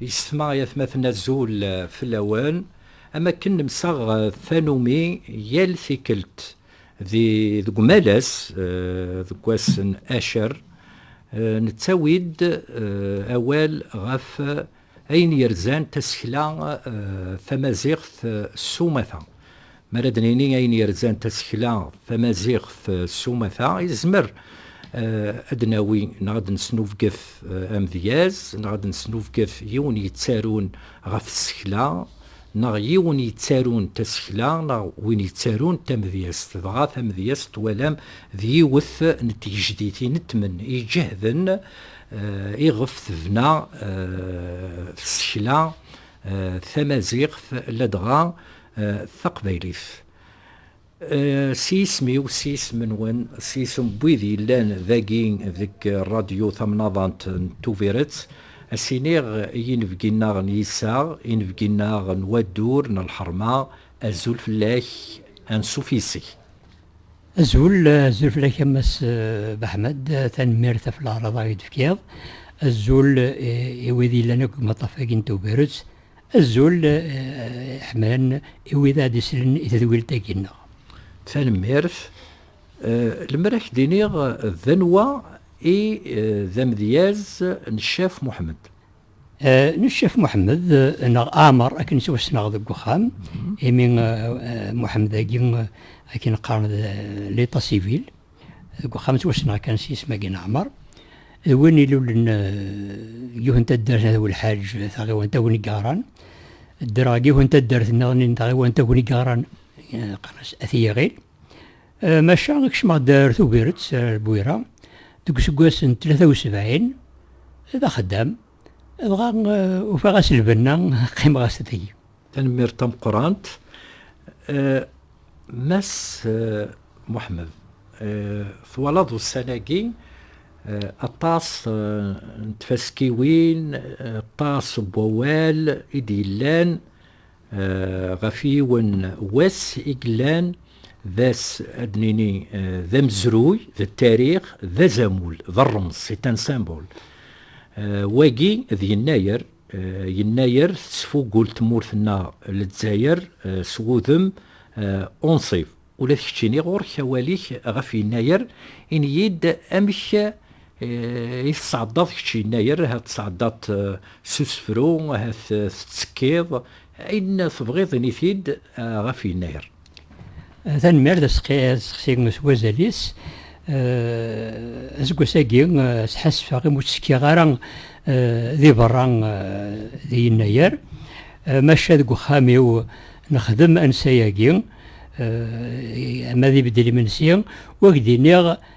Yessetma ay atmaten azul fell-awen, am wakken nemsaɣ tanumi yal tikkelt di deg umalas deg wass n acer, nettawi-d awal ɣef ayen yerzan tasekla tamaziɣt s umata, Mi ara d-nini ayen yerzan tasekla tamaziɣt s umata, yezmer ad d-nawi neɣ ad d-nesnubget amedyaz, neɣ ad d-nesnubget yiwen yettarun ɣef tsekla, neɣ yiwen yettarun tasekla, neɣ win yettarun tamedyazt. Dɣa tamedyazt twalam d yiwet n tgejdit inetmen iǧehden iɣef tebna tsekla tamaziɣt, ladɣa taqbaylit. S yisem-iw, s yisem-nwen, s yisem n wid yellan dagi deg Rradyu Tamnaḍant n Tubiret, ad s-iniɣ i yinebgi-nneɣ n yiseɣ, inebgi-nneɣ n wadur, n lḥerma, azul fell-ak, ansuf yis-k. Azul, azul fell-ak a Mass Baḥmed, tanemmirt ɣef leɛraḍ-a i d-tefkiḍ. Azul i wid yellan akk deg umaṭṭaf-agi n Tubiret, Azul ḥemran i wid ara d-islen i tedwilt-agi-nneɣ. Tanemmirt. Lemmer ad k-d-iniɣ d anwa i d amedyaz n Ccaf Muḥemmed? N Ccaf Muḥemmed neɣ Ɛmer akken ttwassneɣ deg uxxam, imi Muḥemmed-agi akken qqaren d l'état civil. Deg uxxam ttwassneɣ kan s yisem-agi n Ɛmer, d win ilulen deg yiwet n taddart n At Welḥaǧ, taɣiwant Agnigaran. Ddreɣ deg yiwet n taddart niḍen n tɣiwant Agnigaran, qqaren-as At Yiɣil. Maca kecmeɣ-d ar Tubiret, ar Bwira, deg useggas n tlata u sebɛin, d axeddam, dɣa ufiɣ-as lbenna, qqimeɣ-as tagi. Tanemmirt tameqqrant. Eh, Mass eh, Muḥmed, eh, twalaḍ ussan-agi aṭas n tfaskiwin, aṭas n wawal i d-yellan ɣef yiwen wass i yellan d ass ad nini d amezruy, d tarix, d azamul, d rrems, c'est un symbole. Wagi d yennayer Yennayer tettfugul tmurt-nneɣ Lezzayer s wudem unṣib. Ula d keččini ɣur-k awal-ik ɣef Yennayer, ini-yi-d amek i tesɛeddaḍ kečč Yennayer, ahat tesɛeddaḍ-t s usefru, ahat tettekkiḍ, ayen tebɣiḍ ini-t-id ɣef Yennayer. Tanemmirt aseqsi s wazal-is. Aseggas-agi sḥassfeɣ imi ur tt-tekkiɣ ara di berra di Yennayer, maca deg uxxam-iw nexdem ansa-agi ama d ibeddel imensi u ak-d-iniɣ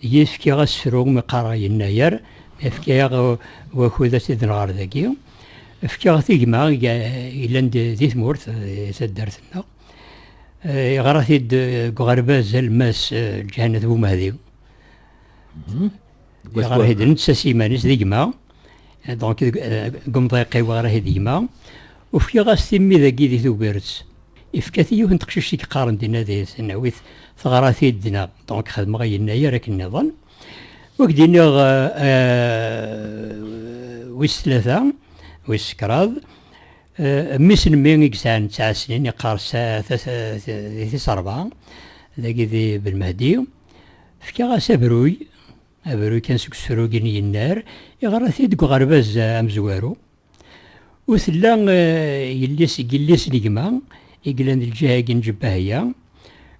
Yefka asefru mi qqareɣ yennayer, yefka-aɣ wakud ad t-id-nɣer ɣer dagi. Fkiɣ-t i gma yellan di tmurt, di taddart-nneɣ. Yeɣra-t-id deg uɣerbaz alemmas Lǧahanat Bumehdi. Yeɣra-t-id netta s yiman-is, d gma. donc deg umḍiq-iw ɣer ahi d gma, ufiɣ-as timmi dagi di Tubiret, ifka-t i yiwet n teqcict i yeqqaren dinna di tesnawit, teɣra-t-id dinna, donc xedmeɣ i yennayer akken nniḍen. Wi k-d-iniɣ wis tlata, wis kraḍ, mmi-s n mmi i yesɛan tesɛa snin, yeqqar di tis rebɛa, dagi di Belmehdi, fkiɣ-as abruy, Aberru kan seg usrug n yennar, yeɣra-t-id deg uɣerbaz amezwaru. Ur tella yelli-s deg yelli-s n gma i yellan d lǧiha-agi n Ǧebbahya.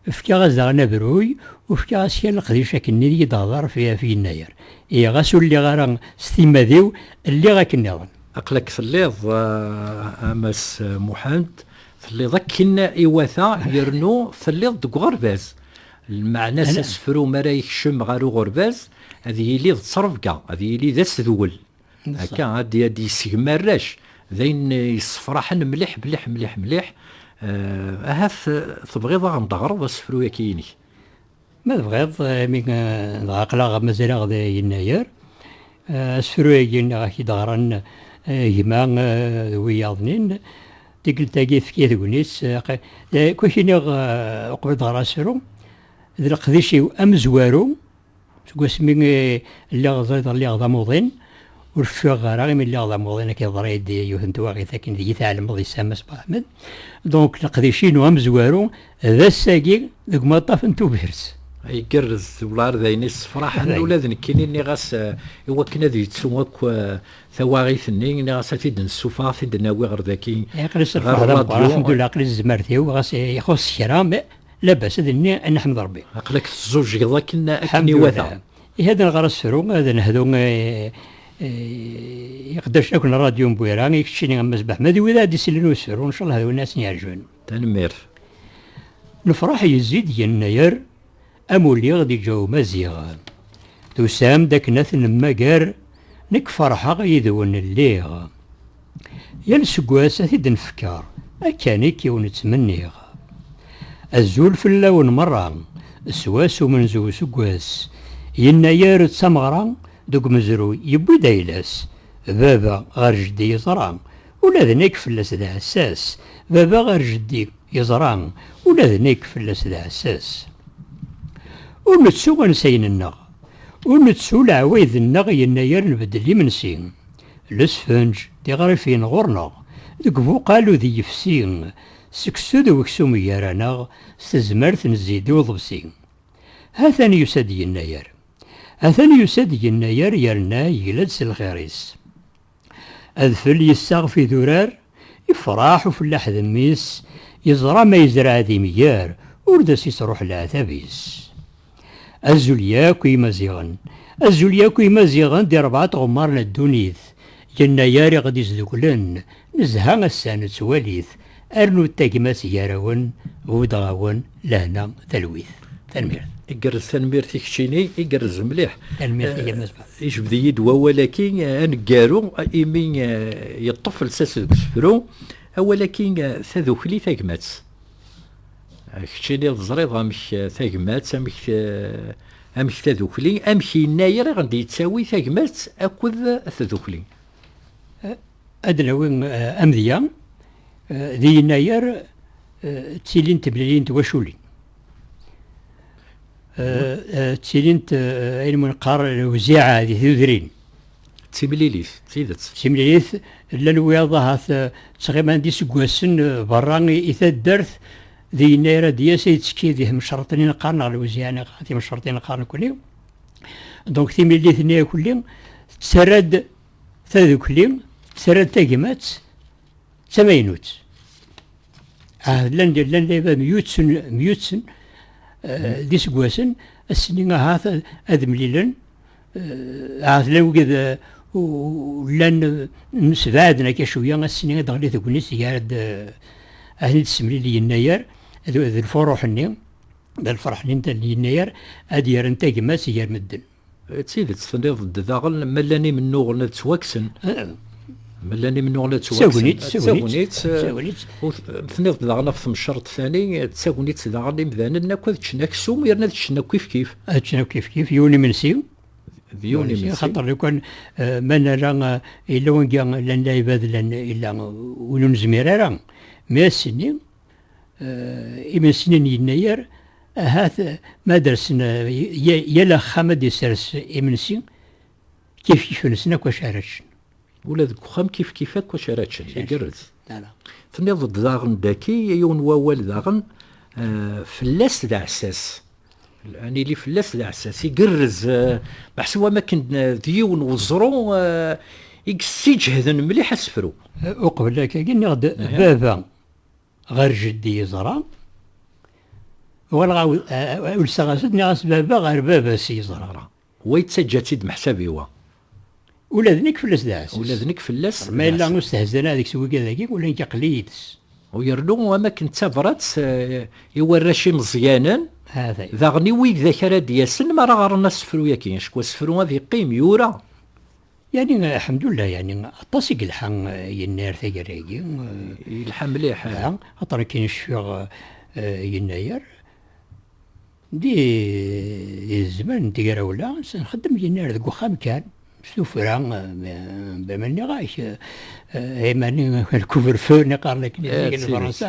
Fkiɣ-as daɣen abruy, u fkiɣ-as kan leqdic akken i yi-d-teɣder f f yennayer. Ihi ɣas ur lliɣ ara s timmad-iw, lliɣ akken nniḍen. Aql-ak telliḍ a Mass Muḥend, telliḍ akken iwata yernu telliḍ deg uɣerbaz. Lmeɛna-s asefru mi ara yekcem ɣer uɣerbaz ad yili d ttrebga, ad yili d asedwel, akka ad d-yessegmi arrac, d ayen yessefraḥen mliḥ mliḥ mliḥ mliḥ. Ahat tebɣiḍ ad aɣ-n-d-teɣreḍ asefru-yaki-inek? Ma tebɣiḍ, imi dɣa aql-aɣ mazal-aɣ di yennayer, asefru-yagi-nneɣ i k-id-ɣran gma d wiyaḍ-nni. Tikkelt-agi efk-iyi tegnit, kwi iniɣ uqbel ad ɣer asru, d leqdic-iw amezwaru, seg wasmi lliɣ ẓriḍ lliɣ d amuḍin, ur ffiɣeɣ ara imi lliɣ d amuḍin akka yeḍra-yi-d yiwet n twaɣit akken deg-i tɛelmeḍ yessa Mass Mohamed, donc leqdic-inu amezwaru d ass-agi deg umaṭṭaf n Tubiret. Igerrez, wellah ar d ayen issefraḥen, ula d nekkini nniɣ-as iwakken ad yettu akk Tawaɣit-nni, nniɣ-as ad t-id-nessufeɣ, ad t-id-nawi ɣer daki, Aql-i s lferḥ d ameqqran, alḥemdullah, aql-i s tzmert-iw, ɣas ixuṣ kra, labas, ad nini neḥmed Rebbi. Aql-ak tezzuǧgeḍ akken iwata. Ihi ad nɣer asefru, ad nehdu i iqeddacen akk n Radyu n Bwira, i keččini a Mass Beḥmed, i wid ara d-isellen i usefru, ncallah d win ara sen-yeɛjben. Tanemmirt. Lefṛaḥ yezzi-d yennayer, Am uliɣ di Joe Maziɣ. Tusam-d akken ad ten-nemmager, nekk ferḥeɣ yid-wen lliɣ. Yal seggas ad t-id-nfekker, akkanik i wen-ttmenniɣ. Azul fell-awen merra, s wass umenzu useggas, yennayer d tameɣra, deg umezruy yewwi-d ayla-s, baba ɣer jeddi yeẓra, Ula d nekk fell-as d aɛessas. Baba ɣer jeddi yeẓra. Ula d nekk fell-as d aɛessas. Ur nettu ansayen-nneɣ. Ur nettu leɛwayed-nneɣ yennayer nbeddel imensi. Lesfenǧ, tiɣrifin ɣur-neɣ. Deg ubuqal udi yefsi. Seksu d weksum gar-aneɣ. S tezmert nezzi-d i uḍebsi. Hatan yusa-d yennayer. Atan yusa-d yennayer yerna yegla-d s lxir-is. Adfel yessaɣef idurar, ifraḥ ufellaḥ d mmi-s, yeẓra ma yezreɛ d imger, ur d as-ittruḥ leɛtab-is. Azul yakk i Imaziɣen, azul yakk i Imaziɣen di rebɛa tɣemmar n ddunit, yennayer i ɣ-d-izeduglen, nezha ass-a nettwali-t, Arnu-d tagmat gar-awen, buddeɣ-awen lehna talwit. Tanemmirt. Igerrez tanemmirt i keččini, igerrez mliḥ. Tanemmirt i Mass Ba. Ijbed-iyi-d wawal-aki aneggaru imi yeṭṭef lsas deg usefru. Awal-aki tadukli tagmat. Keččini teẓriḍ amek tagmat, amek amek tadukli, amek yennayer i ɣ-d-yettawi tagmat akked tdukli. Ad nawi amedya, di yennayer ttilint temlilin n twaculin. Ttilint ayen ma neqqar lewziɛa di tudrin. D timlilit, d tidet. D timlilit, llan wiyaḍ ahat ttɣiman d iseggasen berra i taddart, di yennayer ad d-yas ad yettekki di temcerḍin i neqqar neɣ lewziɛa neɣ timcerḍin neqqar nekkni. Donc timlilit-nni akelli tettarra-d. tadukli terra-d tagmat d tamaynut. Ah, llan llan dayba myutten myutten eh, d iseggasen ass-nni ahat ad mlilen eh, ahat llan wigad eh, llan msebɛaden akka cwiya ass-nni ad ɣli tegnit gar-d ahli d-semlil yennayer d lfuruḥ-nni d lferḥ-nni n yennayer ad yerren tagmat gar medden. D tidet tenniḍ-d daɣen ma llan imennuɣen ad ttwakksen. Ma llan imennuɣen ad ttwakksen. D tagnit. D tagnit. Tenniḍ-d daɣen ɣef temceṛt tani, d tagnit daɣen imdanen akk ad ččen aksum yerna ad ččen akk kifkif. Ad ččen akk kifkif, yiwen imensi. D yiwen imensi. Axaṭer lukan ma nala yella wanga llan lɛibad llan yella win ur nezmir ara mi ass-nni. Eh, imensiyen yennayer ahat ma dersen yal axxam ad d-isers imensi kif kif-nsen akk acu ara ččen. Ula deg uxxam kif kif akk acu ara ččen, igerrez. Tenniḍ-d daɣen daki yiwen wawal daɣen eh, fell-as d aɛessas. An ili fell-as d aɛessas, igerrez, eh, meḥsub am akken d yiwen weẓru i yessiǧehden mliḥ asefru. Uqbel akka, nniɣ-d baba ɣer jeddi yeẓra uɣaleɣ ulseɣ-as-d nniɣ-as baba ɣer baba-s yeẓra wa yettaǧǧa-tt-id meḥsabi wa ula d nekk fell-as d aɛessas ula d nekk fell-as ma yella ur stehzan ara deg-s wigad-agi ula nekk aql-iyi d-s u yernu am akken d tabrat eh, i warrac imeẓyanen daɣen i wigdak ara d-yasen mi ara ɣren asefru-yaki acku asefru ad yeqqim yura Yani aḥemdullah yani aṭas i yelḥa yennar taggara-agi. Yelḥa mliḥ. Aṭar akken i cfiɣ yennayer. Di zzman n tegrawla nxeddem yennar deg uxxam kan. S tufra bama nniɣ-ak imani lkubrefeu neqqaren akken i lefransa.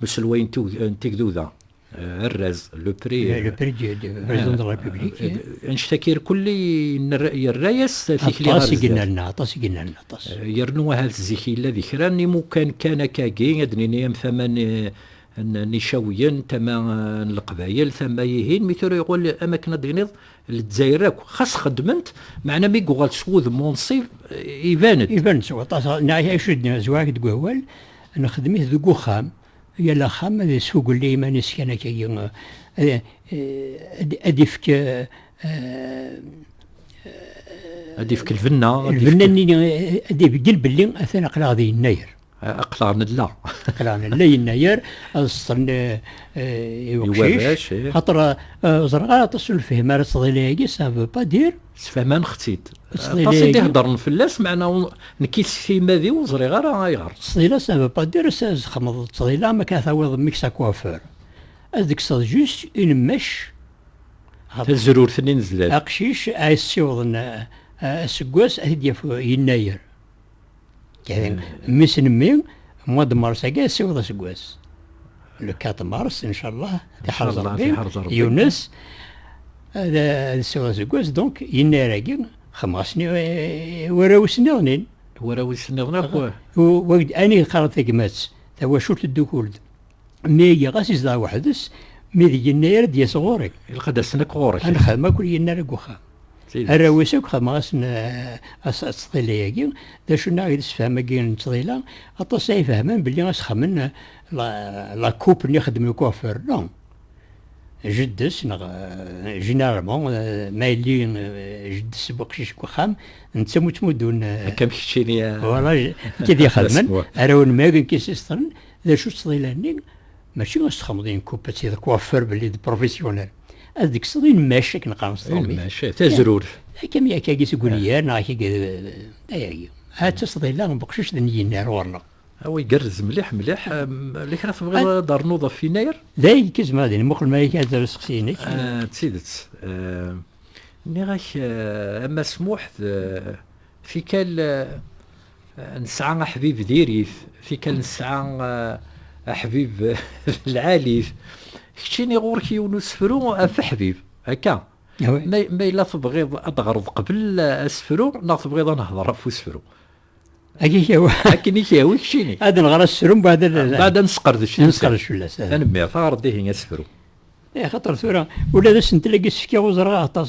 Le selway n tegduda, arraz, le prix. Le prix du président de la République. Anect akir kulli yerra-yas tikli ɣer Aṭas i yennerna, aṭas i yennerna, aṭas. Yernu ahat zik yella di kra n imukan kan akkagi, ad nini am tama n Icawiyen, tama n Leqbayel, tama ihin, mi tura yuɣal am akken ad d-tiniḍ Lezzayer akk, xas xedment, meɛna mi yuɣal s wudem unṣib, iban-d. Iban-d s waṭas, neɛya icudd-nni zwag deg wawal, Nexdem-it deg uxxam, yal axxam ad yesfugel i yiman-is kan akkagi, ad ifk ad ifk lbenna lbenna-nni ad ibeggel belli atan aqlaɣ di yennayer aqlaɣ nella aqlaɣ nella yennayer ad seṭṭen i uqcic xaṭer ẓreɣ ara aṭas ur lefhim ara ttḍila-agi ça veut pas dire Sfehmaneɣ-tt-id. Aṭas i d-iheddren fell-as, meɛna nekki s timmad-iw ur ẓriɣ ara ayɣer. Ttḍila, ça veut pas dire ça, zexmeḍ ttḍila am akka tawiḍ mmi-k s akuafur. Ad d-tekkseḍ juste une mèche ɣef tazrurt-nni n zdat. Aqcic ad as-ssiwḍen aseggas ad t-id-yaf yennayer. Kay, mmis n mmi, mois de mars agi, siweḍ aseggas. Le 4 mars, inchallah, tiḥerz Rebbi, Yunus, ad siweḍ aseggas, donc, yennayer agi, xemɣas warraw-is nniḍnin. Warraw-is nniḍnin akk. Ani qqareḍ tagmat, tawacult ddukul-d. mi i yeɣas izdeɣ weḥd-s mi d yenna ara d-yas ɣur-i ilaq ad asen akk ɣur-k ad nexdem akk yenna ara deg uxxam arraw-is akk xedmeɣ-asen aseṭṭila-agi d acu neɣ i d-sefham-agi n ttḍila aṭas ay fehhmen belli asexxamen la coupe-nni xedmen deg uɣfer no jeddes neɣ généralement ma yelli jeddes bu qcic deg uxxam netta mu ttmuddun akka am keččini voilà kid ixedmen arraw n mag n kisistren D acu ttḍilan-nni? Mačči asexmeḍ n kupati d kuafur belli d professionnel. Ad d-kkseḍ inmac akken qqaren s tṛumit. Inmac, tazrurt. Akka mi akka agi seg uniyar neɣ akka agi ayagi. Ha d tasḍila n beqcic d nyinar ɣur-neɣ. Awa igerrez mliḥ mliḥ. Yella kra tebɣiḍ ad d-ternuḍ ɣef inayr? D ay akka zemreɣ ad muqel ma akka d aseqsi-inek. D tidet. Nniɣ-ak a Mass Muḥ d tikkal Nesɛa aḥbib di rif, tikkal nesɛa aḥbib di lɛalif. Keččini ɣur-k yiwen usefru ɣef aḥbib, akka? Ma yella tebɣiḍ ad d-ɣreḍ qbel asefru neɣ tebɣiḍ ad nehder ɣef usefru? Akka i k-yehwa. Akken i k-yehwa keččini. Ad nɣer asefru mbaɛd ad. Mbaɛd ad nesqerdec. Ad nesqerdec fell-as. Tanemmirt, ɣer-d ihi asefru. Axaṭer tura ula d asentel-agi s-fkiɣ ur ẓriɣ aṭas.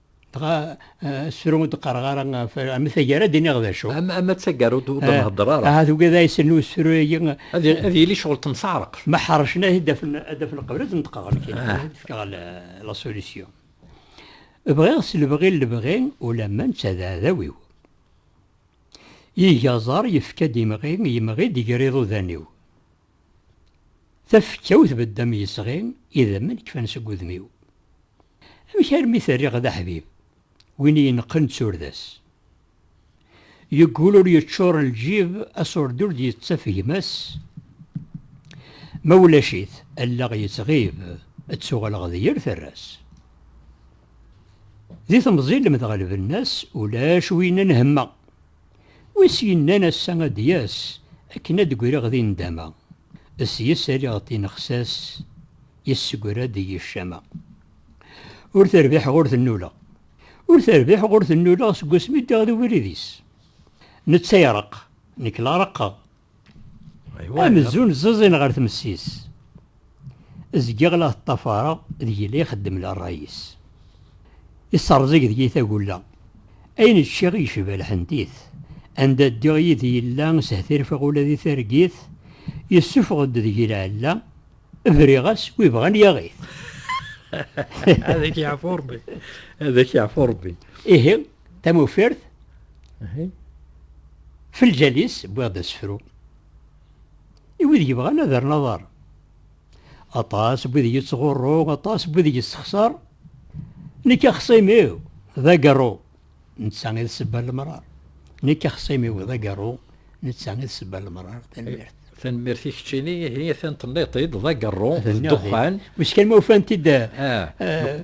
Dɣa sru ur d-qqareɣ ara ɣef am taggara ad d-iniɣ d acu. Am am ad taggar ur d-nhedder ara. Ahat ugad ay sen usru-agi. Ad ad yili ccɣel temseɛreq. Ma ḥercen ad d-afen ad d-afen lqebla ad d-neṭqeɣ nekk. Ad d-fkeɣ la solution. Bɣiɣ s lebɣi n lebɣi ulamma netta d aɛdaw-iw. Iga aẓar yefka-d imɣi, yemɣi-d ger iḍudan-iw. Tafekka-w tbedd am yesɣi, idammen kfan seg udem-iw. Amek armi t-rriɣ d aḥbib, win i ineqqen d turda-s? Yeggul ur yeččur lǧib, aṣurdi ur d-yettaf gma-s. Ma ulac-it, allaɣ yettɣib, ttuɣaleɣ d yir tarra-s. Di temẓi lemdeɣ lbenna-s, ulac win n hemma. Wi s-yennan ass-a ad d-yas akken ad d-greɣ di ndama, sys aliɣ tinexsas yessegra-d i yicama. Ur terbiḥeɣ ur tennuleɣ. Ur terbiḥeɣ ur tennuleɣ seg wasmi ddiɣ di ubrid-is. Netta ireqq, nekk la reqqeɣ. Amzun ẓẓiẓin ɣer tmessis. Zgiɣ la t-ṭṭafareɣ deg-i la ixeddem la ṛṛay-is. Isseṛẓig deg-i tagulla. Ayen ččiɣ yecba lḥentit. Anda ddiɣ yid-i yella sehtirfeɣ ula di targit. Yessufeɣ-d deg-i lɛella. Briɣ-as wi ibɣan yaɣ-it. Ad ak-yeɛfu Ṛebbi. Ad ak-yeɛfu Ṛebbi. Ihi Tamufert, f lǧal-is wwiɣ-d asefru. I wid yebɣan ad rren aḍar. Aṭas n wid yettɣurru, aṭas n wid yessexṣar. Nekk axṣim-iw d agerru, netta i d sebba n lemrar. Nekk axṣim-iw d agerru, netta i d sebba n lemrar. Tanemmirt. Tanemmirt i keččini, ihi atan tenniḍ-t-id d agerru, d ddexxan. Wiss kan ma ufant-id. Ah. Eh,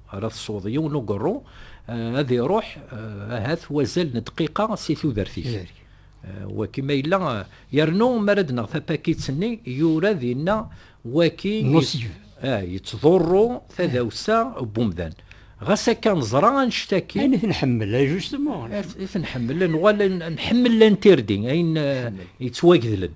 ara tesweḍ yiwen ugerru eh, ad iruḥ eh, ahat wazal n dqiqa si tudert-ik eh, waki ma yella yernu mi ara d-neɣ tapakit-nni yura dinna waki yettḍurru tadawsa n umdan ɣas akka neẓra annect-agi ayen i ten-ḥemmel ay justement i ten-ḥemmel nuɣal nḥemmel lantirdi ayen yettwagedlen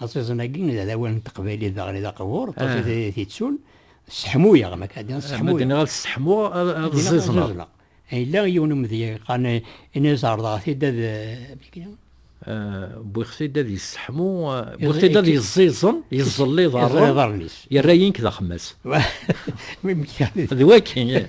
Aẓiẓen-agi d adawan n teqbaylit daɣen i d aqbur, aṭas i d t-ittun. Sseḥmuyeɣ, ma k-ɛeddiɣ sseḥmuyeɣ. Ma d-nniɣ ad sseḥmuɣ, ad ẓiẓneɣ. Yella yiwen umedya yeqqaren ini zerḍeɣ-t-id ad... Wwiɣ-t-id ad yesseḥmu, wwiɣ-t-id ad yeẓẓiẓen, yeẓẓel iḍarren, yerra-yi nekk d axemmas. D wakken,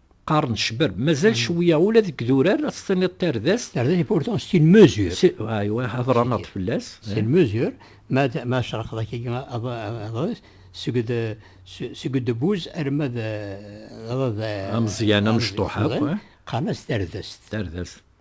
qqaren cbab, mazal mm. cwiya ula deg durar ad tiniḍ tardest. Tardest est pourtant c'est une mesure. Aywa, hḍra naḍ fell-as. C'est une mesure, ma ma cerqeḍ akka adres seg de seg de bouz arma de ameẓyan amecṭuḥ akk. Qqaren-as tardest. Tardest.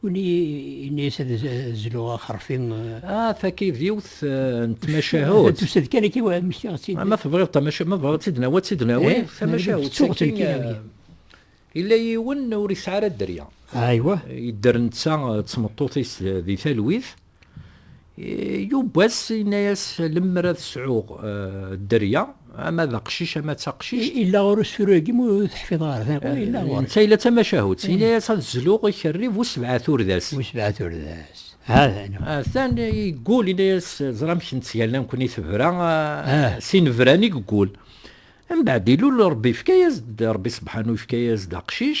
Win ini-as ad zluɣ axerfi. Ah, takid yiwet n tmacahut. Tusa-d kan akka mmektiɣ-tt-id. Ma tebɣiḍ tamacahut, ma tebɣiḍ tt-id nawi, ad tt-id nawi. Tamacahut. Ttuɣ tt-id. Yella yiwen ur yesɛi ara dderya. Aywa. Yedder netta d tmeṭṭut-is di talwit. Yuba-s yenna-as lemmer ad sɛuɣ eh, dderya, ama d aqcic ama d taqcict. Illa ɣer usuru-agi mu teḥfiḍ ɣer tiqu, eh, illa ɣer. Netta illa d tamacahut, eh. yenna-as ad zluɣ ikerri bu sebɛat urdas. Bu sebɛat urdas. Hatan. Hatan yeggul, yenna-as ẓra amek nettgalla nekkni tebra, s inebran i yeggul. Mbeɛd ilul Rebbi yefka-yas-d, Rebbi sebḥanu yefka-yas-d aqcic,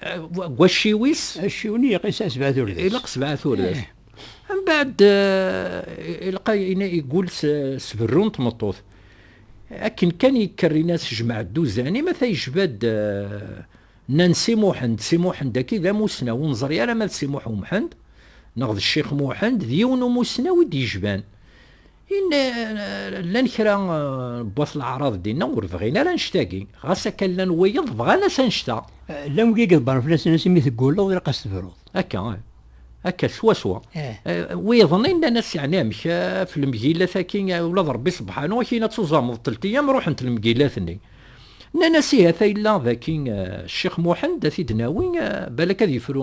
deg wacciw-is acciw-nni iqis-as sebɛa urdas ilaq sebɛa urdas mbaɛd ilqa igul s berru n tmeṭṭut akken kan yekker inas jmaɛ dduzan ima ta yejba-d Nansi Muḥend Si Muḥend aki d amussnaw ur neẓri ara ma d Si Muḥ Umḥend neɣ d Ccix Muḥend d yiwen umusnaw i d-yejban Ini, llan kra n wat leɛraḍ dinna ur bɣin ara annect-agi, ɣas akka llan wiyeḍ bɣan-as annect-a. Llan wigi iḍebbren fell-asen ass imi tegguleḍ ilaq ad s-tebruḍ. Akka, akka swaswa. Wiyeḍ-nni nnan-as yeɛni amek, ɣef lemgilat-agi ula d Rebbi sebḥanu ak-yenna ad tuẓameḍ teltiyam ruḥent lemgilat-nni. Nnan-as ihi ata yella daki Ccix Muḥend ad t-id-nawi balak ad yefru.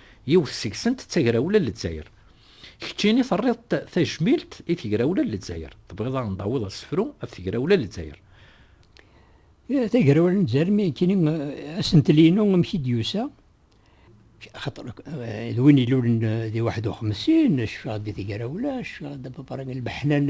Yiwet seg-sent d tagrawla n Lezzayer. Kečči i terriḍ-t tajmilt i tegrawla n Lezzayer, tebɣiḍ a ɣ-n-tawiḍ asefru ɣef tegrawla n Lezzayer? Tagrawla n Lezzayer mi nekkini asentel-inu amek i d-yusa, axaṭer d win ilulen di Waḥed Uxemsin, cfiɣ di tegrawla, cfiɣ d ababara n lmeḥna n.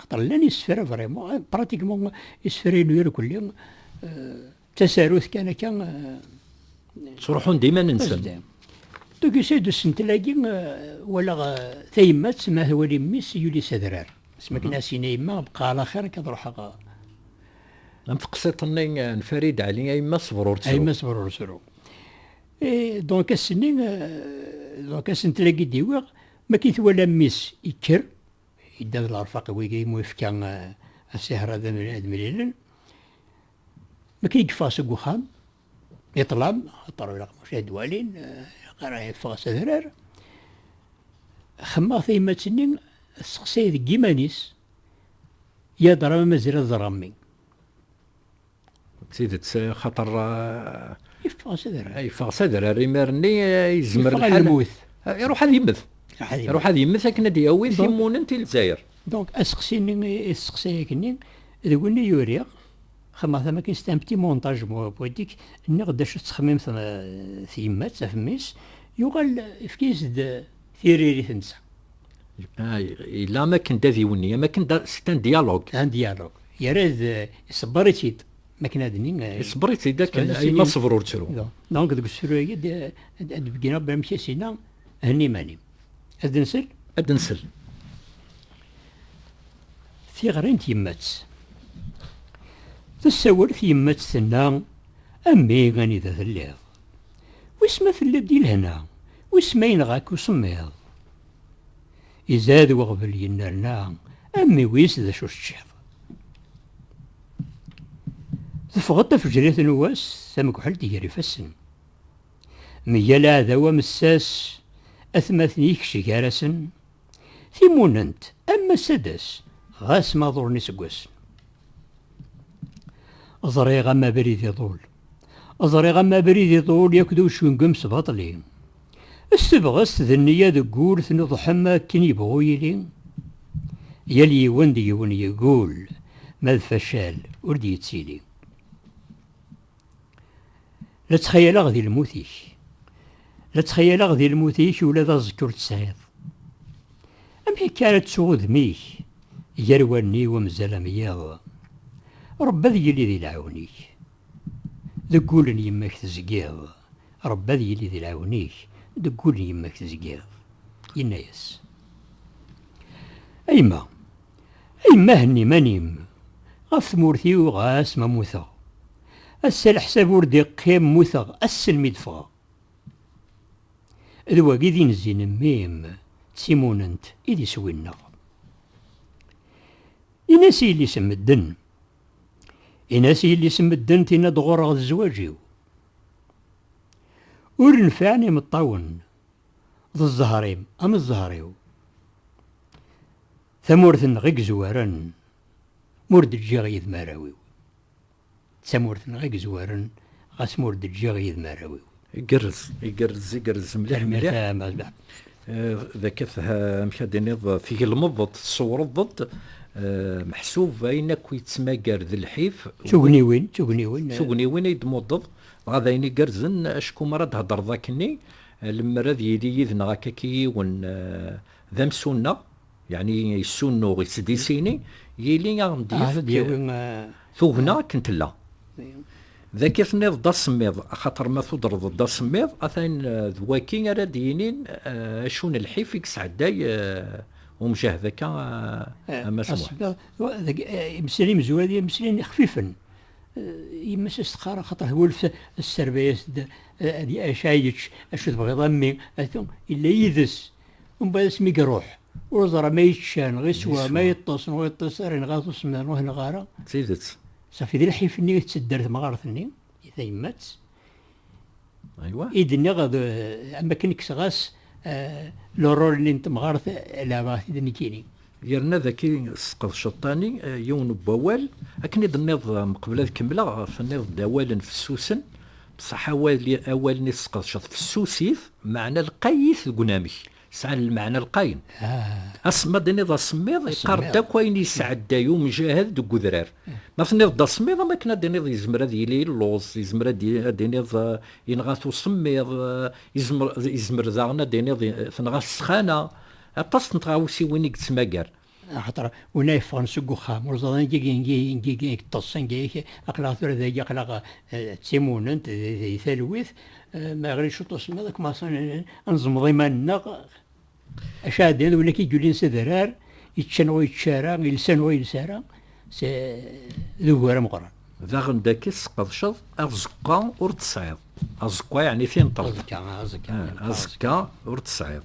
Xaṭer llan isefra vraiment, eh, pratiquement isefra-inu iru kulli d eh, tasarut kan akka. Eh, Ttruḥun-d iman-nsen. Donc yusa-d usentel-agi walaɣ tayemmat ma twali mmi-s yuli s adrar. Sma akken asin a yemma bqa ala xir akka ad ruḥeɣ am teqsiṭ-nni n Farid Ali ay ma ṣber ur ttru ay ma ṣber ur ttru donc ass-nni donc asentel-agi d-iwiɣ ma k-it wala mmi-s yekker Yedda d lerfaq i wigi imu yefka asiher ad mlilen. Mi akken i yeffeɣ seg uxxam, i ṭṭlam, axaṭer ilaq mačči ad walin, ilaq ara yeffeɣ s adrar. Xemmeɣ tayemmat-nni tesseqsay deg yiman-is, Yadra ma mazal ad ẓreɣ mmi? D tidet, xaṭer. Yeffeɣ s adrar. Yeffeɣ s adrar, imir-nni yezmer lḥal. Yeffeɣ lmut. Iruḥ ad yemmet. Iruḥ ad yemmet akken ad d-yawi timunent i Lezzayer. Donc, aseqsi-nni, aseqsi-agi-nni, d win i uriɣ, xemmeɣ tama akin, c'est un petit montage poétique, nniɣ-d acu tettxemmim tyemmat, ɣef mmi-s, yuɣal, yefka-as-d tiririt netta. Ah, yella am akken d adiwenni am akken c'est un dialogue un dialogue yerra-d iṣebber-itt-id makken ad nini iṣebber-itt-id akken ma ṣebr ur ttru donc deg usefru-agi ad d-begin rabbi amek i s-inna henni iman-im ad nsel ad nsel tiɣri n tyemmat-s tessawel tyemmat tenna a mmi anida telliḍ Wis ma tella-d di lehna, wis ma yenɣa-k usemmiḍ. Izad weɣbel yennerna, a mmi wis d acu teččiḍ. Teffeɣ-d tafejrit n wass, tamekḥelt gar ifassen. Meyya leɛdaw amessas, atmaten-ik cceg gar-asen. Timunent, a mass ad d-tas, ɣas ma ḍulen iseggasen. Ẓriɣ a mmi abrid iḍul, Ẓriɣ am abrid iḍul yak d ucengem s baṭli. S tebɣest d nniya deg ul tnuḍḥem akken yebɣu yili. Yal yiwen d yiwen yeggul, ma d facal ur d-yettili. La ttxayaleɣ di lmut-ik. La ttxayaleɣ di lmut-ik ula d aẓekka ur t-tesɛiḍ. Amek akka ara ttuɣ udem-ik gar wallen-iw amzal am yiḍ? Ṛebbi ad yili di lɛiwen-ik. Deg wul n yemma-k tezgiḍ. Ṛebbi ad yili di lɛiwen-ik, deg wul n yemma-k tezgiḍ. Yenna-yas, A yemma, a yemma henni iman-im ɣef tmurt-iw ɣas ma mmuteɣ. Ass-a leḥsab ur d-iqqim mmuteɣ ass-n mi d-ffɣeɣ. D wagi d inzi n mmi-m, d timunent i d iswi-nneɣ. Ini-as i yelli-s n medden. Ini-as i yelli-s n medden tinna-d ɣur-ɣ d zzwaǧ-iw. Ur nfiɛen imeṭṭawen, d zzher-im am zzher-iw. Tamurt-nneɣ i yezwaren, ma ur d-ǧǧiɣ yid-m arraw-iw. D tamurt-nneɣ i yezwaren ɣas ma ur d-ǧǧiɣ yid-m arraw-iw. Igerrez, igerrez, igerrez mliḥ mliḥ. D akka tha, amek ad d-tiniḍ, tgelmeḍ-d, tṣewreḍ-d, meḥsub ayen akk yettmagar d lḥif. D tugniwin, d tugniwin. D tugniwin ay d-tmuddeḍ, dɣa d ayen igerrzen acku mi ara d-theddreḍ akkenni, lemmer ad yili yid-neɣ akaki yiwen d amsuneɣ, Yeɛni yessunuɣ i tdisini yili a ɣ-d-yefk tugna akken tella. D akka i tenniḍ-d asemmiḍ, axaṭer ma tudreḍ-d asemmiḍ, atan d waki ara d-yinin acu n lḥif i yesɛedday umjahd akka a Mass Muḥ. Asemmiḍ, deg imeslayen imezwura, imeslayen ixfifen. Yemma-s a s-teqqar, axaṭer twulft tesservay-as-d, Acu ara yečč, acu tebɣiḍ a mmi, atu, yella yid-s, Mbaɛd asmi iruḥ, ur neẓra ma yečča neɣ yeswa, ma yeṭṭes neɣ ur yeṭṭes, ara yenɣa-t usemmiḍ neɣ ur yenɣa ara. D tidet. Safi d lḥif-nni i tettedder temɣart-nni i tayemmat. Aywa. I d-nniɣ d am wakken kkseɣ-as lurul-nni n temɣart, leɛbeɣ-t-id nekkini. Yerna dagi tesqed ceṭṭani yiwen n wawal, akken i d-tenniḍ mqbel ad kemmleɣ, tenniḍ-d awalen fessusen, bṣaḥ awalen i tesqedceḍ fessusit, meɛna lqayit deg unamek, sɛan lmeɛna lqayen. Asemmiḍ, iniḍ asemmiḍ, yeqqar-d akk ayen i yesɛedday umjahed deg udrar. Ma tenniḍ-d asemmiḍ, am wakken ad d-iniḍ yezmer ad yili illuẓ, yezmer ad d-iniḍ yenɣa-t usemmiḍ, yezmer daɣen ad d-iniḍ tenɣa-t ssxana. Aṭas n tɣawsiwin i yettmagar. Axaṭer win ay yeffɣen seg uxxam, ur ẓran agi agi agi agi ay yeṭṭes, anga yak aql-aɣ tura dagi, aql-aɣ d timunent, di talwit, ma iɣli cwiṭ usemmiḍ, ad kmaṣen ad neẓmeḍ iman-nneɣ. Acu ara d-iniḍ, win akka i yulin s adrar, yeččan ur yečči ara, yelsan ur yelsi ara, d ugur ameqran. Daɣen dagi tesqedceḍ aẓekka ur t-tesɛiḍ. Aẓekka yeɛni tinṭeḍ. Aẓekka, aẓekka. Aẓekka ur t-tesɛiḍ.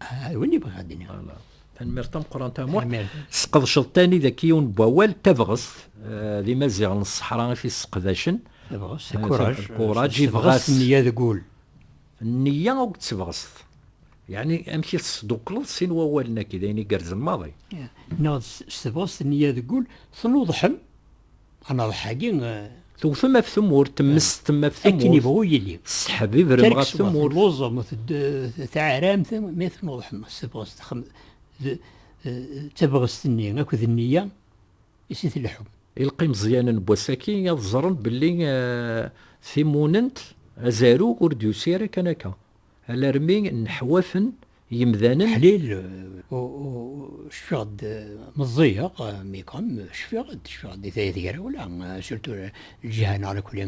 Ah, win i bɣiɣ ad d-iniɣ. Tanmirt tameqqrant am wa. Sqedceḍ tani deg yiwen n wawal tabɣest eh, d imaziɣen n ṣṣeḥra i t-isseqdacen. Tabɣest, eh, kuraj. Kuraj, ibɣas. Nniya deg wul. Nniya akked tebɣest. Yeɛni amek i tesdukleḍ sin wawalen-agi, d ayen igerrzen maḍi. Neɣ s tebɣest nniya deg wul, tnuḍḥem Anaḍeḥ-agi tewtem af tmurt, temmesten af tmurt. Akken ibɣu yili. Tesseḥb ibrem ɣef tmurt. Telluẓem, teɛramt, mi tnuḍḥem s tebɣest, d tabɣest-nni akked nniya i si tleḥḥum. Ilaq imeẓyanen n wass-aki ad ẓren belli timunent, azarug, ur d-yusi ara kan akka. alarmi nneḥwaten yemdanen. Ḥlil, cfiɣ-d meẓẓiyeɣ, mais quand même cfiɣ-d, cfiɣ-d i tayet grawla, surtout lǧiha neɣ nekni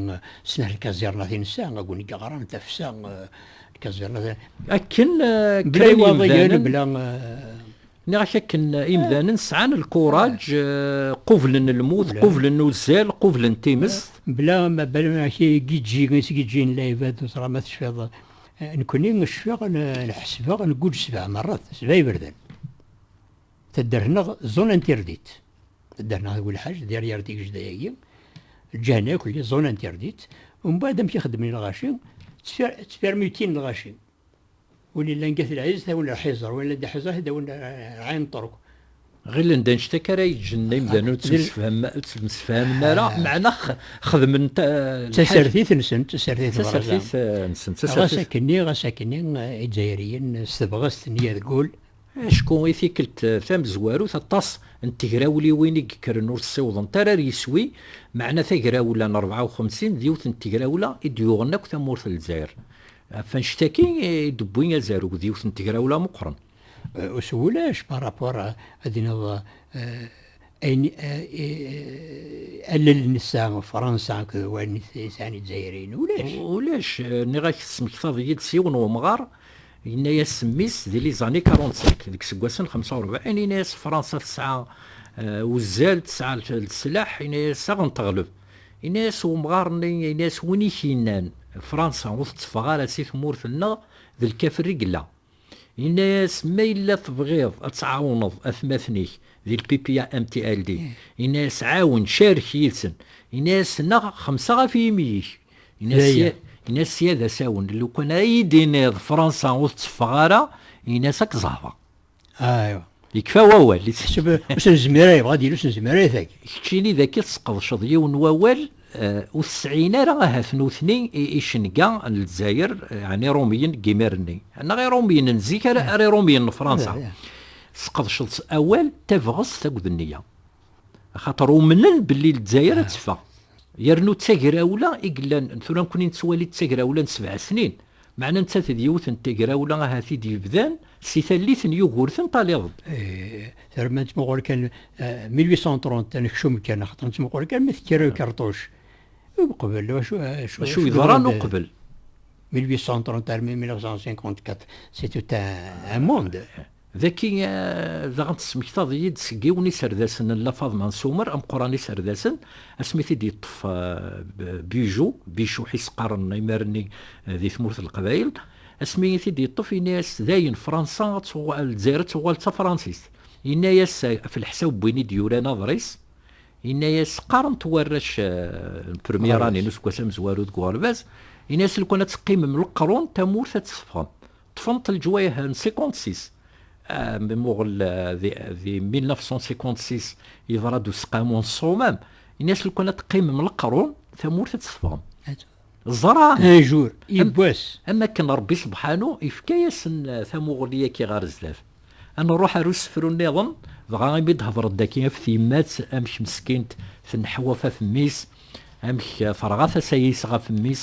snat lkaẓirna tinsa, aguni yeɣran tafsa, lkaẓirna. Akken kra n yemdanen. Bla iwaḍiyen, bla. Nniɣ-ak akken imdanen sɛan lkuraǧ, qublen lmut, qublen uzzal, qublen times. Mebla ma banen ak igiǧǧi i s-giǧǧin lɛibad, neẓra ma tecfiḍ. Nekkni cfiɣ, ḥesbeɣ, nguǧǧ sebɛa merrat, sebɛa iberdan. Taddart-nneɣ zona interdit. Taddart-nneɣ deg Welḥaǧ, derrière Tigejda-agi, lǧehna akk-lli zona interdit. Umbeɛd amek i xeddmen i lɣaci, ttfermutin lɣaci. Win yellan gat lɛiz tawen lḥiẓer, win yellan d aḥiẓer tawen ɛin ṭruk. Ɣilen d annect akka ara yeǧǧen imdanen ur ttemsefhamen ara, meɛna xedmen lḥal. D tasertit-nsen, d tasertit n Bṛazza. Ɣas akkenni, ɣas akkenni, Izzayriyen s tebɣest n yergul. Acku i tikkelt tamezwarut aṭas n tegrawliwin i yekkren ur ssiwḍent ara ar yiswi, meɛna tagrawla n rebɛa u xemsin d yiwet n tegrawla i d-yuɣen akk tamurt n Lezzayer. Ɣef annect-agi i d-wwi azarug d yiwet n tegrawla meqqren. Ur s wulac par rapport ad d-tiniḍ ayen allel nessa Fransa akked wayen sɛan Izzayriyen, ulac. Ulac, nniɣ-ak tesmektaḍ-iyi-d s yiwen wemɣar yenna-yas mmi-s di les années 45, deg iseggasen xemsa u rebɛin, yenna-yas Fransa tesɛa uzzal, tesɛa leslaḥ, yenna-yas ad ɣen-teɣleb. Yenna-as wemɣar-nni, yenna-as win i k-yennan Fransa ur tetteffeɣ ara si tmurt-nneɣ, d lkafer i yella. Yenna-as, ma yella tebɣiḍ ad tɛawneḍ atmaten-ik di lpipiya MTLD, yenna-as ɛawen, carek yid-sen. Yenna-as, neɣ xemsa ɣef yimi-ik. Yenna-as, sya d asawen, lukan ad iyi-d-tiniḍ Fransa ur tetteffeɣ ara, yenna-as ad k-zehreɣ. Aywa. Yekfa wawal. Yettḥseb ur nezmir ara yebɣa ad yili ur nezmir ara itag. Keččini d akka tesqedceḍ yiwen n wawal eh, ur tesɛin ara ahat nutni icenga n Lezzayer, ɛni Iṛumiyen n yimir-nni. Neɣ Iṛumiyen n zik ara Iṛumiyen n Fṛansa. Tesqedceḍ awal tabɣest akked nniya. Axaṭer umnen belli Lezzayer ad teffeɣ. Yernu d tagrawla i yellan, tura nekkni nettwali d tagrawla n sebɛa snin, meɛna nettat d yiwet n tagrawla ahat i d-yebdan si tallit n Yugurten taliḍ-d. Tura ma nettmuqul kan 1830 ad nekcum kan, axaṭer nettmuqul kan mi tekker lkerṭuc. Uqbel, acu yeḍran uqbel? 1830 armi 1954, c'est tout un monde. Daki daɣen tesmektaḍ-iyi-d seg yiwen iserdasen n La Faḍma n Sumer, ameqqran iserdasen, asmi t-id-yeṭṭef Bijou, Bicuḥ i s-qqaren imir-nni di tmurt n Leqbayel, asmi i t-id-yeṭṭef yenna-as-d dayen Fransa, Lezzayer ad tuɣal d tafransist. Yenna-as, ɣef leḥsab n win i d-yuran aḍris, yenna-as, qqaren-t warrac n premyera-nni n useggas amezwaru deg uɣerbaz, yenna-as lukan ad teqqimem leqrun tamurt ad tt-teffɣem. ṭṭfent leǧwayeh n 56 mi muɣel di 1956 yeḍra-d useqqamu n ṣṣumam ini-as lukan ad teqqimem leqrun tamurt ad tessefɣem ẓra ajur yibbwas am akken rebbi sebḥanu yefka-yasen tamuɣli yaki ɣer zdat ad nruḥ ar usefru nniḍen dɣa imi d-hedren daki af tyemmat amek meskint tenneḥwaf af mmi-s amek terɣa tasa-is ɣef mmi-s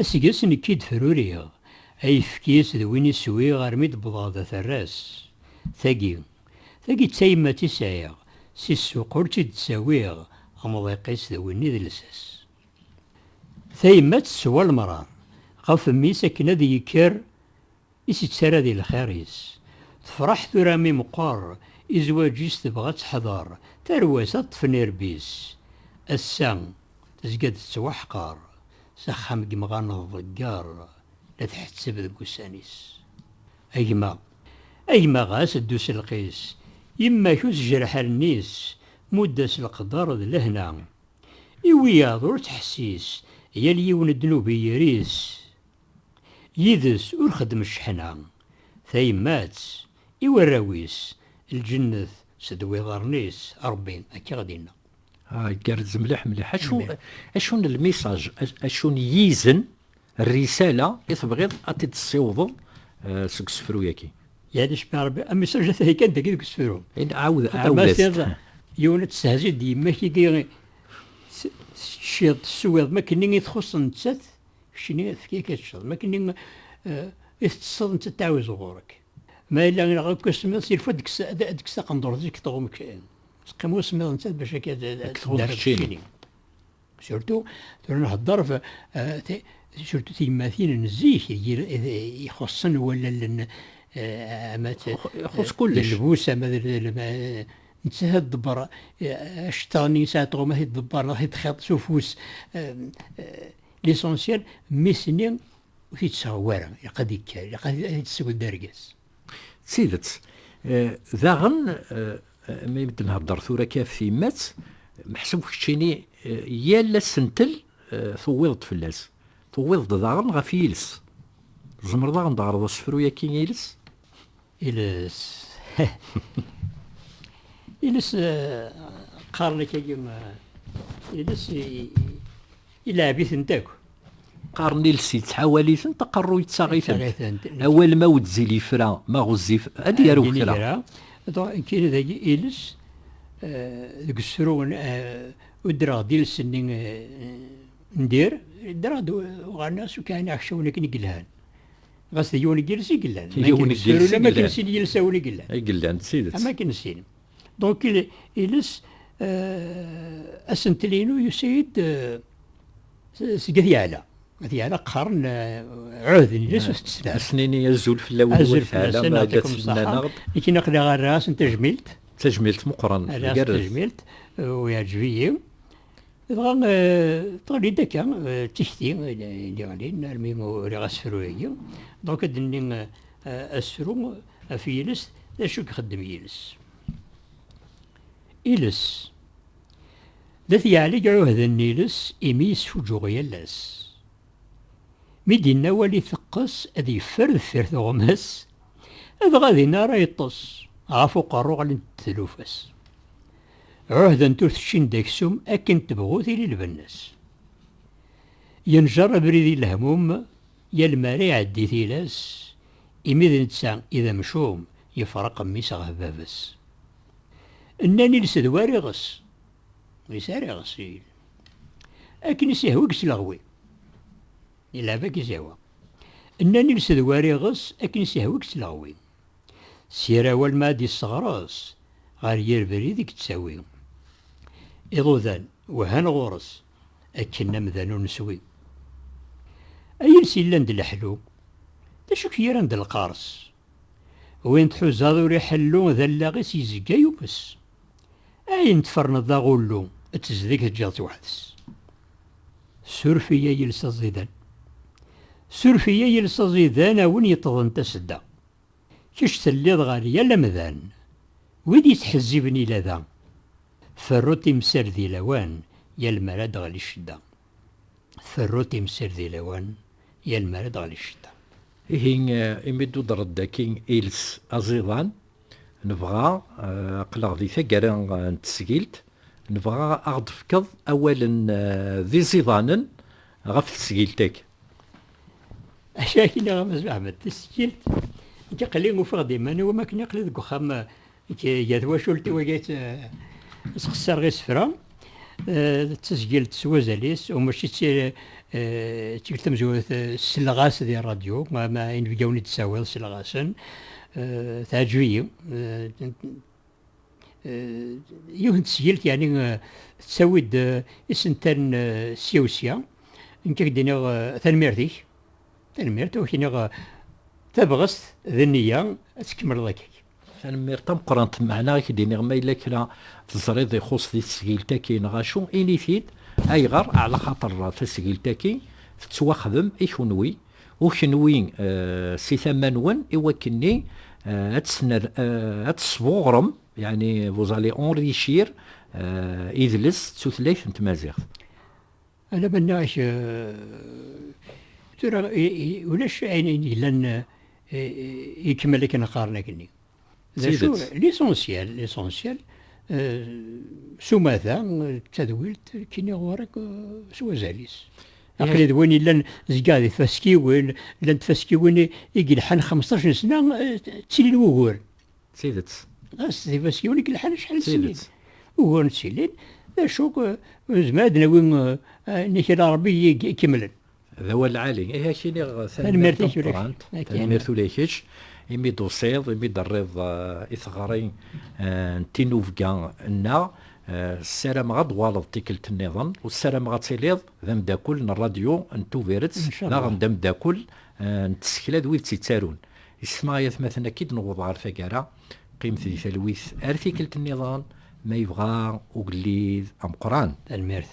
Aseggas nekk i d-fruriɣ ayefki-s d win i swiɣ armi d-wwḍeɣ d aterras. Tagi, tagi d tayemmat i sɛiɣ, si ssuq ur tt-id-ttawiɣ, amḍiq-is d winni d llsas. Tayemmat teswa lemrar ɣef mmi-s akken ad yekker I s-ittara di lxir-is. Tefreḥ tura mi meqqer i zwaǧ-is tebɣa ad teḥder tarwa-s ad ṭṭfen irebbi-s. Ass-a tezga-d tettwaḥqer s axxam n yemɣar n tḍegger la tḥetteb deg ussan-is. A gma, a gma ɣas ddu s lqis, yemma-k ur tejreḥ allen-is, mudd-as leqder d lehna. I wiyaḍ ur ttḥessis, yal yiwen ddnub i yiri-s. Yid-s ur xeddem cceḥna. Tayemmat, i warraw-is, lǧennet sed wiḍarren-is, Rebbi akka ad inna. Ah, igerrez mliḥ mliḥ. Acu, acu n lmisaj, acu n yizen, rrisala, i tebɣiḍ ad t-id-tessiwḍeḍ seg usefru-yagi? Yal acemma a Rebbi, amisaj ata-yi kan dagi deg usefru. Ɛawed, ɛawed-as-t. Yiwen ad testehziḍ d yemma-k igi, teččiḍ, teswiḍ, ma akken i txuṣṣ nettat. Keččini efk-ik ad teččeḍ, ma akken i tettesseḍ nettat tettɛiwizeḍ ɣur-k. Ma yella ineɣ akk usemmiḍ, s ilfo ad d-tekkes taqendurt-is deg tɣum keččini. Teqqim usemmiḍ nettat bac akka ad d-terr keččini. Surtout, tura nhedder ɣef surtout tiyemmatin n zik ixuṣṣen wallalen ama d lbus ama d Nettat ad tḍebber aceṭṭiḍ-nni yesɛa tɣuma i tḍebber neɣ i txiḍ s ufus. Lisansyal, mmi-s-nni ur t-id-tseɣwi ara, ilaq ad ikker, ilaq ad t-id-tesseww d argaz. D tidet. Daɣen, mi d-nhedder tura akka ɣef tyemmat, meḥsub keččini yal asentel tuwiḍ-d fell-as. Tuwiḍ-d daɣen ɣef yiles. Tzemreḍ ad aɣ-d-teɣreḍ asefru-yaki iles? Iles. Iles qqaren akka iles ilɛeb-itent akk. Qqaren iles yettḥawal-itent, aqerru yettaɣ-itent. Awal ma wedzil yefra, ma ɣezzif, ad yaru kra. Kiri dagi iles deg usru uddreɣ d iles-nni n dir, ddreɣ-d uɣalen-as ukaɛen aḥeccawen akken i yelhan. Ɣas d yiwen n yiles i yellan. Yiwen n yiles i yellan. Am akken sin yilsawen i yellan. I yellan, d tidet. Am akken sin. Donc, iles, euh, asentel-inu yusa-yi-d euh, seg At Yeɛla. At Yeɛla qqaren euh, ɛud n iles u tetteslan. Asnini azul fell-awen. Azul fell-asen, yɛtikum ṣṣaḥa. Ikin aql-aɣ ara asen tajmilt. Tajmilt meqqren. Ara asen tajmilt, u yeɛǧeb-iyi. Dɣa tɣelli-d akka d tikti d-iɣlin armi uriɣ asefru-agi. Dɣa ad d-nini asefru ɣef yiles, d acu i ixeddem yiles? Iles, d at yeɛlig iɛuhden n yiles imi yesfuǧǧuɣ yal ass. Mi d-yenna awal iteqqes ad yeffer deffir tuɣmas, dɣa dinna ara yeṭṭes, ɣef uqerru ɣlint-d tlufa-s. Ɛuhdent ur t-ččint d aksum akken tebɣu tili lbenna-s. Yenjer abrid i lehmum yal mi ara iɛeddi tilas, imi d netta i d amcum yefreq mmi-s ɣef baba-s. Nnan iles d war iɣes, ur yesɛi ara iɣes. Akken i s-ihwa i yesleɣwi. Ilɛeb akka i s-ihwa. Nnan iles d war iɣes, akken i s-ihwa i yesleɣwi. s yir awal ma ad d-isseɣres ɣer yir brid i yettawi. Iḍudan wehhan ɣur-s akken amdan ur neswi. A yiles yellan d leḥlu, d acu k-yerran d lqers? Win tḥuzaḍ ur iḥellu d allaɣ-is yezga yumes. Ayen tferneḍ d aɣullu, ttezdi k-teǧǧiḍ tweḥd-s. Suref-iyi ay iles aẓidan. Suref-iyi ay iles aẓidan a win yeṭṭḍen tasedda. Kečč telliḍ ɣer yal amdan. Wid yettḥezziben ila da. Ferru timsal di lawan yal mi ara d-teɣli ccedda. Ferru timsal di lawan yal mi ara d-teɣli ccedda. Ihi imi d-tudreḍ dagi iles aẓidan, Nebɣa, aql-aɣ di taggara n tesgilt, nebɣa ad ɣ-d-tefkeḍ awalen d iẓidanen ɣef tesgilt-agi. Akka i nniɣ a Mass Beḥmed, tisgilt agi aql-i ufiɣ-d iman-iw am wakken aql-i deg uxxam gar twacult-iw agi i tt-xessareɣ isefra. d tazgilt s wazal-is u mačči d tikkelt tamezwarut selleɣ-as di ṛṛadyu ma inebgawen i d-tessawiḍ selleɣ-asen teɛǧeb-iyi yiwet n tesgilt yani tettawi-d isental sya u sya nekk ad k-d-iniɣ tanemmirt-ik tanemmirt u ak-iniɣ tabɣest d nniya ad tkemmleḍ akka Tanemmirt tameqqrant, meɛna i k-d-iniɣ ma yella kra teẓriḍ ixuṣ di tesgilt-agi neɣ acu, ini-t-id, ayɣer, ɛla xaṭer tasgilt-agi tettwaxdem i kunwi, u kunwi si tama-nwen i wakken-nni ad tesbuɣrem, yeɛni vous allez enrichir, idles d tutlayt n tmaziɣt. Ala ma nniɣ-ak tura ulac ayen yellan ikemmel akken qqaren akenni. D acu lisensyal, lisensyal s umata d tadwilt kini ɣur-k s wazal-is. Aqli d win yellan zga di tfaskiwin, llant tfaskiwin i yelḥan 15 sna ttilin wuguren. D tidet. Ɣas d ibaskiwen i yelḥan acḥal n snin. Ugar n sinin, d acu nezmer ad nawi nnig n Rebbi ikemlen. D awal lɛali. Ihi ad k-iniɣ tanemmirt tameqqrant, tanemmirt ula i kečč imi d-tusiḍ, imi d-terriḍ i teɣri n tinubga-nneɣ. Ssarameɣ ad d-tuɣaleḍ tikkelt nniḍen, u ssarameɣ ad tiliḍ d ameddakel n Rradyu n Tubiret, daɣen d ameddakel n tsekla d wid tt-yettarun. Is tma ay atmaten akka i d-newweḍ ɣer taggara, qqimet di talwit ar tikkelt nniḍen ma yebɣa ugellid ameqqran. Tanemmirt.